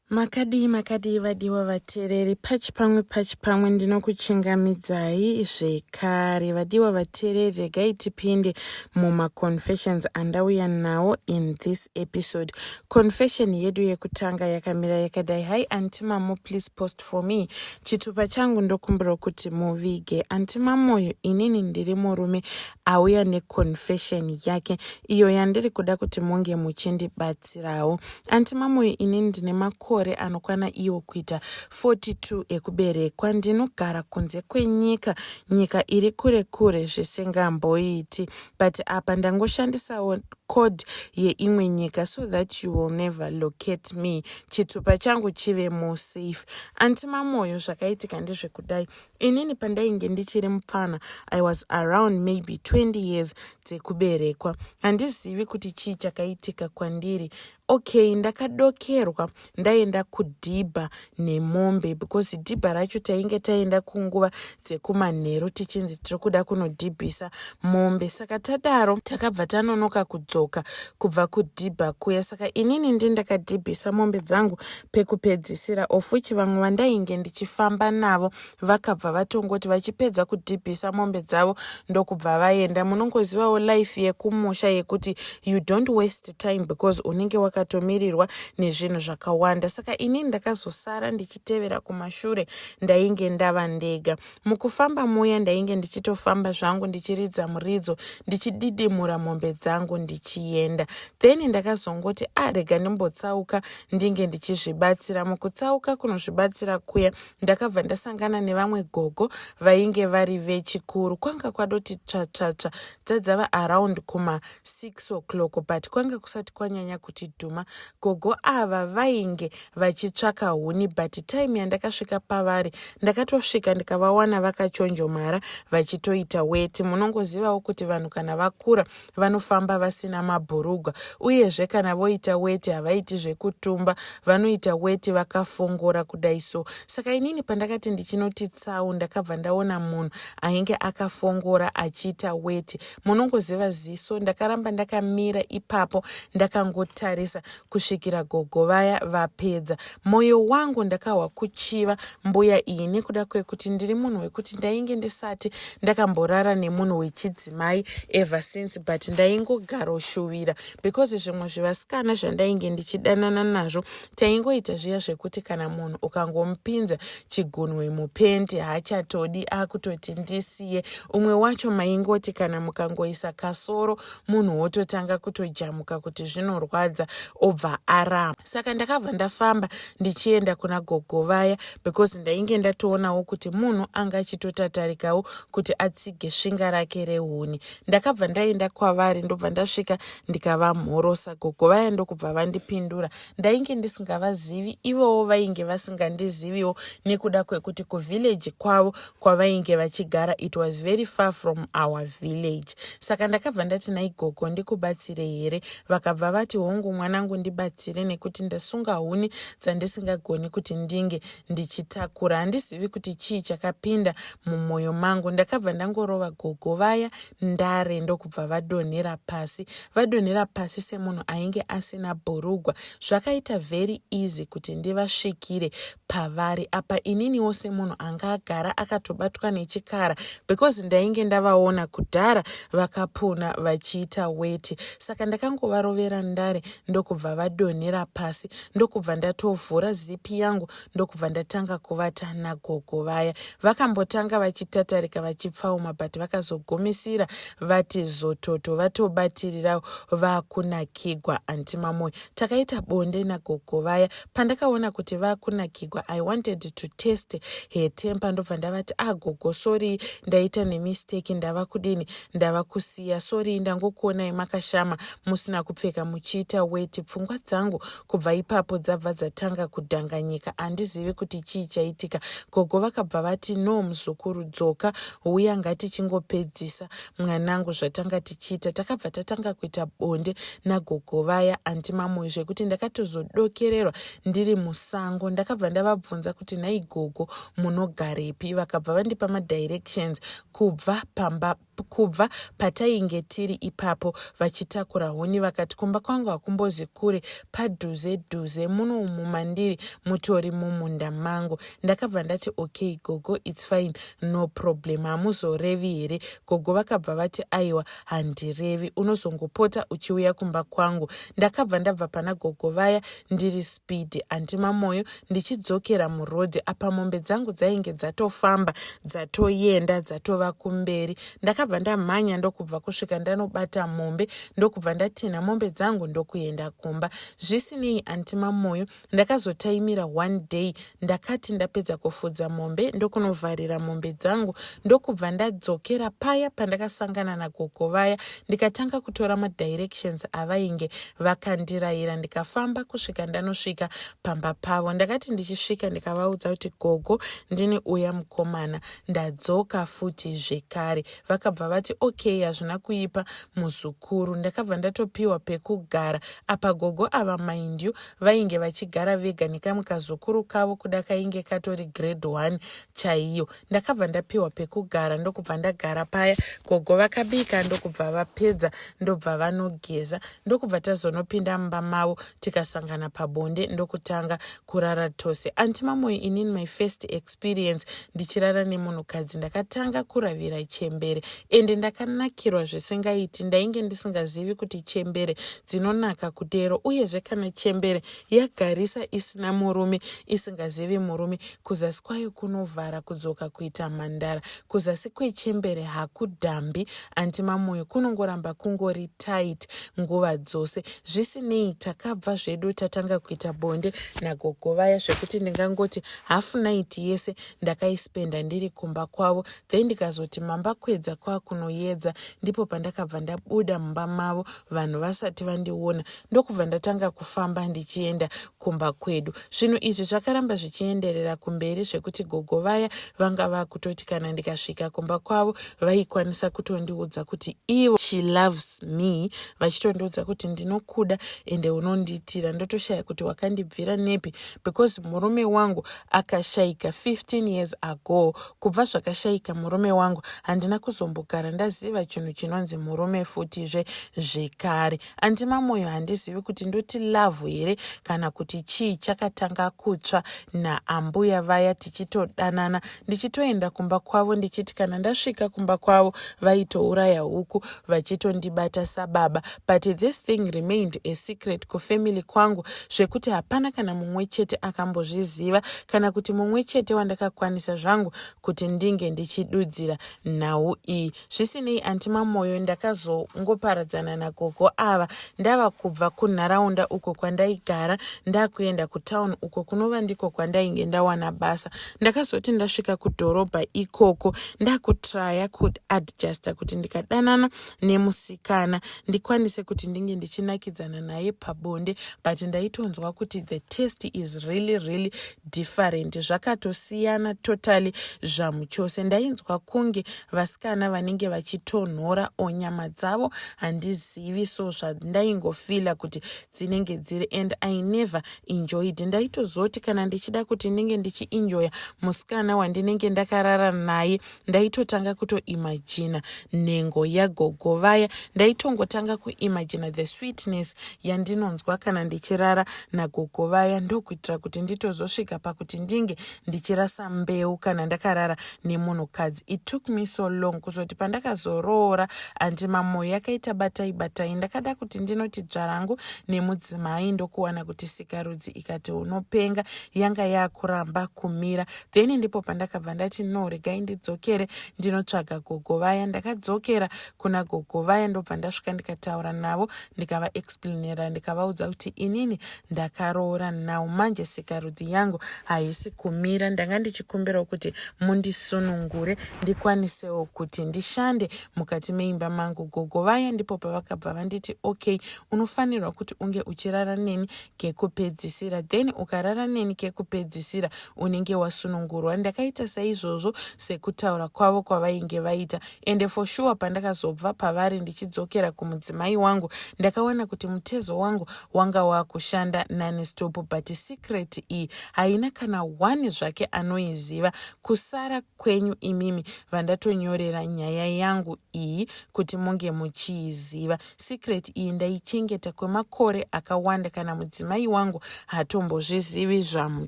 makadii makadii vadiwa vateereri pachi pamwe pachi pamwe ndinokuchingamidzai zvekare vadiwa vateereri regai tipinde mumaconfessions andauya nawo in this episode confession yedu yekutanga yakamira yakadai hi anti mamo please post for me chitupa changu ndokumbira kuti muvige anti mamoyo inini ndiri murume auya neconfession yake iyo yandiri kuda kuti munge muchindibatsirawo anti mamoyo ini ndine makore anokwana iwo kuita 42 ekuberekwa ndinogara kunze kwenyika nyika iri kure kure zvisingamboiti but apa ndangoshandisawo code yeimwe nyika so that you will never locate me chitupa changu chive more safe anti mamoyo zvakaitika ndezvekudai inini pandainge ndichiri mupfana i was around maybe 20 years dzekuberekwa handizivi kuti chii chakaitika kwandiri okay ndakadokerwa ndaenda kudhibha nemombe because dhibha racho tainge taenda kunguva dzekumanheru tichinzi tiri kuda kunodhibhisa mombe saka tadaro takabva tanonoka kudzoka kubva kudhibha kuya saka inini ndi ndakadhibhisa mombe dzangu pekupedzisira of which vamwe vandainge ndichifamba navo vakabva vatongoti vachipedza kudhibhisa mombe dzavo ndokubva vaenda munongozivawo life yekumusha yekuti you don't waste time because unenge wakatomirirwa nezvinhu zvakawanda saka ini ndakazosara ndichitevera kumashure ndainge ndava ndega Mukufamba muya ndainge ndichitofamba zvangu ndichiridza muridzo ndichididimura mombe dzangu ndichienda. Then ndakazongoti arega ah, ndimbotsauka ndinge ndichizvibatsira. Mukutsauka kunozvibatsira kuya ndakabva ndasangana nevamwe gogo vainge vari vechikuru. Kwanga kwadoti tsvatsvatsva dzadzava around kuma 6 o'clock but kwanga kusati kwanyanya kuti dhuma. Gogo ava vainge vachitsvaka huni but time yandakasvika pavari ndakatosvika ndikavawana vakachonjomara vachitoita weti munongozivawo kuti vanhu kana vakura vanofamba vasina mabhurugwa uyezve kana voita weti havaiti zvekutumba vanoita weti vakafongora kudai so saka inini pandakati ndichinoti tsau ndakabva ndaona munhu ainge akafongora achiita weti munongoziva ziso ndakaramba ndakamira ipapo ndakangotarisa kusvikira gogo vaya vapedza moyo wangu ndakahwa kuchiva mbuya iyi nekuda kwekuti ndiri munhu wekuti ndainge ndisati ndakamborara nemunhu wechidzimai ever since but ndaingogaroshuvira because zvimwe zvevasikana zvandainge ndichidanana nazvo taingoita zviya zvekuti kana munhu ukangomupinza chigunwe mupendi haachatodi akutoti ndisiye umwe wacho maingoti kana mukangoisa kasoro munhu wototanga kutojamuka kuti zvinorwadza obva arama saka ndakabva ndafamba ndichienda kuna gogo vaya because ndainge ndatoonawo kuti munhu anga achitotatarikawo kuti atsige svinga rake rehuni ndakabva ndaenda kwavari ndobva ndasvika ndikavamhorosa gogo vaya ndokubva vandipindura ndainge ndisingavazivi ivowo vainge vasingandiziviwo nekuda kwekuti kuvhileji kwavo kwavainge vachigara it was very far from our village saka ndakabva ndati naigogo ndikubatsire here vakabva vati hongu mwanangu ndibatsire nekuti ndasunga huni dzandisingagoni kuti ndinge ndichitakura handizivi kuti chii chakapinda mumwoyo mangu ndakabva ndangorova gogo vaya ndare ndokubva vadonhera pasi vadonhera pasi semunhu ainge asina bhurugwa zvakaita very easy kuti ndivasvikire pavari apa ininiwo semunhu anga agara akatobatwa nechikara because ndainge ndavaona kudhara vakapuna vachiita weti saka ndakangovarovera ndare ndokubva vadonhera pasi ndokubva ndatovhura zipi yangu ndokubva ndatanga kuvata nagogo vaya vakambotanga vachitatarika vachipfauma but vakazogumisira vati zototo vatobatirirawo vakunakigwa antimamoyo takaita bonde nagogo vaya Pandakaona kuti vakunakigwa I wanted to test her temper ndobva ndavati agogo ah, sorry ndaita nemistake ndava kudini ndava kusiya sorry ndangokuonai makashama musina kupfeka muchiita weti pfungwa dzangu kubva ipapo dzabva dzatanga kudhanganyika handizivi kuti chii chaitika gogo vakabva vati no muzukuru dzoka huya ngatichingopedzisa mwanangu zvatanga tichiita takabva tatanga kuita bonde nagogo vaya anti mamoyo zvekuti ndakatozodokererwa ndiri musango ndakabva ndavabvunza kuti nhai gogo munogarepi vakabva vandipa madirections kubva pamba kubva patainge tiri ipapo vachitakura huni vakati kumba kwangu hakumbozi kure padhuze dhuze muno umu mandiri mutori mumunda mangu ndakabva ndati okay gogo its fine no problem hamuzorevi here gogo vakabva vati aiwa handirevi unozongopota uchiuya kumba kwangu ndakabva ndabva pana gogo vaya ndiri spidi anti mamoyo ndichidzokera murodhi apa mombe dzangu dzainge dzatofamba dzatoyenda dzatova kumberi ndakabva ndamhanya ndokubva kusvika ndanobata mombe ndokubva ndatinha mombe dzangu ndokuenda kumba zvisinei anti mamoyo Ndakazotaimira one day ndakati ndapedza kufudza mombe ndokunovharira mombe dzangu ndokubva ndadzokera paya pandakasangana nagogo vaya ndikatanga kutora madirections avainge vakandirayira ndikafamba kusvika ndanosvika pamba pavo ndakati ndichisvika ndikavaudza kuti gogo ndini uya mukomana ndadzoka futi zvekare vakabva vati okay hazvina kuipa muzukuru ndakabva ndatopiwa pekugara apa gogo ava mind you vainge vachigara vega nekamwe kazukuru kavo kuda kainge katori grade one chaiyo ndakabva ndapiwa pekugara ndokubva ndagara paya gogo vakabika ndokubva vapedza ndobva vanogeza ndokubva tazonopinda mumba mavo tikasangana pabonde ndokutanga kurara tose anti mamoyo inin my first experience ndichirara nemunhukadzi ndakatanga kuravira chembere ende ndakanakirwa zvisingaiti ndainge ndisingazivi kuti chembere dzinonaka kudero uyezve kana chembere yagarisa isina murume isingazivi murume kuzasi kwayo kunovhara kudzoka kuita mhandara Kuzasi kwechembere hakudambi anti Mamoyo kunongoramba kungori tight nguva dzose. Zvisinei takabva zvedu tatanga kuita bonde nagogo vaya zvekuti ndingangoti half night yese ndakaispenda ndiri kumba kwavo then ndikazoti mamba kwedza kwakunoyedza ndipo pandakabva ndabuda mumba mavo vanhu vasati vandiona ndokubva ndatanga kufamba ndichienda kumba kwedu zvinhu izvi zvakaramba zvichienderera kumberi zvekuti gogo vaya vanga vakutoti kana ndikasvika kumba kwavo vaikwanisa kutondiudza kuti ivo she loves me vachitondiudza kuti ndinokuda ende unondiitira ndotoshaya kuti wakandibvira nepi because murume wangu akashaika 15 years ago kubva zvakashaika murume wangu handina kuzombogara ndaziva chinhu chinonzi murume futizve zvekare Anti Mamoyo handizivi kuti ndoti love here kana kuti chii chakatanga kutsva naambuya vaya tichitodanana ndichitoenda kumba kwavo ndichiti kana ndasvika kumba kwavo vaitouraya huku vachitondibata sababa but this thing remained a secret kufamily kwangu zvekuti hapana kana mumwe chete akambozviziva kana kuti mumwe chete wandakakwanisa zvangu kuti ndinge ndichidudzira nhau iyi zvisinei anti mamoyo ndakazongoparadzana nagogo ava ndava kubva kunharaunda uko kwandaigara ndakuenda kutown uko kunova ndiko kwandainge ndawana basa ndakazoti ndasvika kudhorobha ikoko ndakutraya kuadjusta kuti ndikadanana nemusikana ndikwanise kuti ndinge ndichinakidzana naye pabonde but ndaitonzwa kuti the test is really really different zvakatosiyana totally zvamuchose ndainzwa kunge vasikana vanenge vachitonhora or nyama dzavo handizivi so zvandaingofeela kuti dzinenge dziri and i never enjoyed ndaitozoti kana ndichida kuti ndinge ndichienjoya musikana wandinenge ndakarara naye ndaitotanga kutoimajina nhengo yagogo vaya ndaitongotanga kuimajina the sweetness yandinonzwa kana ndichirara nagogo vaya ndokuitira kuti nditozosvika pakuti ndinge ndichirasa mbeu kana ndakarara nemunhukadzi it took me so long kuzoti pandakazoroora andi mamoyo yakaita batai batai ndakada kuti ndinoti dzvarangu nemudzimai ndokuwana kuti sikarudzi ikati unopenga yanga yakuramba kumira then ndipo pandakabva ndati no regai ndidzokere ndinotsvaga gogo vaya ndakadzokera kuna gogo vaya ndobva ndasvika ndikataura navo ndikavaexplainera ndikavaudza kuti inini ndakaroora now manje sikarudzi yangu haisi kumira ndanga ndichikumbirawo kuti mundisunungure ndikwanisewo kuti ndishande mukati meimba mangu gogo vaya ndipo pavakabva vanditi okay unofanirwa kuti unge uchirara neni kekupedzisira then ukarara neni kekupedzisira unenge wasunungurwa ndakaita saizvozvo sekutaura kwavo kwavainge vaita ende for sure pandakazobva pavari ndichidzokera kumudzimai wangu ndakawana kuti mutezo wangu wanga wakushanda nani stop but secret iyi haina kana one zvake anoiziva kusara kwenyu imimi vandatonyorera nyaya yangu iyi kuti munge muchiiziva secret iyi ndaichengeta kwemakore akawanda kana mudzimai wangu hatombozvizivi zvamu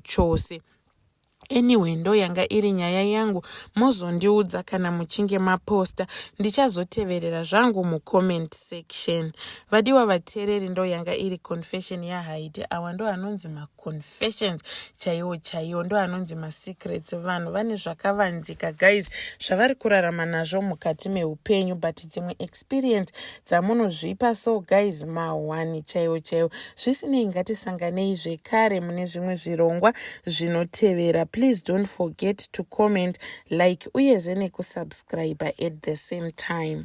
chose anyway ndo yanga iri nyaya yangu mozondiudza kana muchinge maposta ndichazoteverera zvangu mucomment section vadiwa vateereri ndo yanga iri confession yahaiti awa ndo anonzi maconfessions chaiwo chaiwo ndo anonzi masecrets vanhu vane zvakavanzika guys zvavari kurarama nazvo mukati meupenyu but dzimwe experience dzamunozvipa so guys mahwani chaiwo chaiwo zvisinei ngatisanganei zvekare mune zvimwe zvirongwa zvinotevera please don't forget to comment like uyezve nekusubscriber at the same time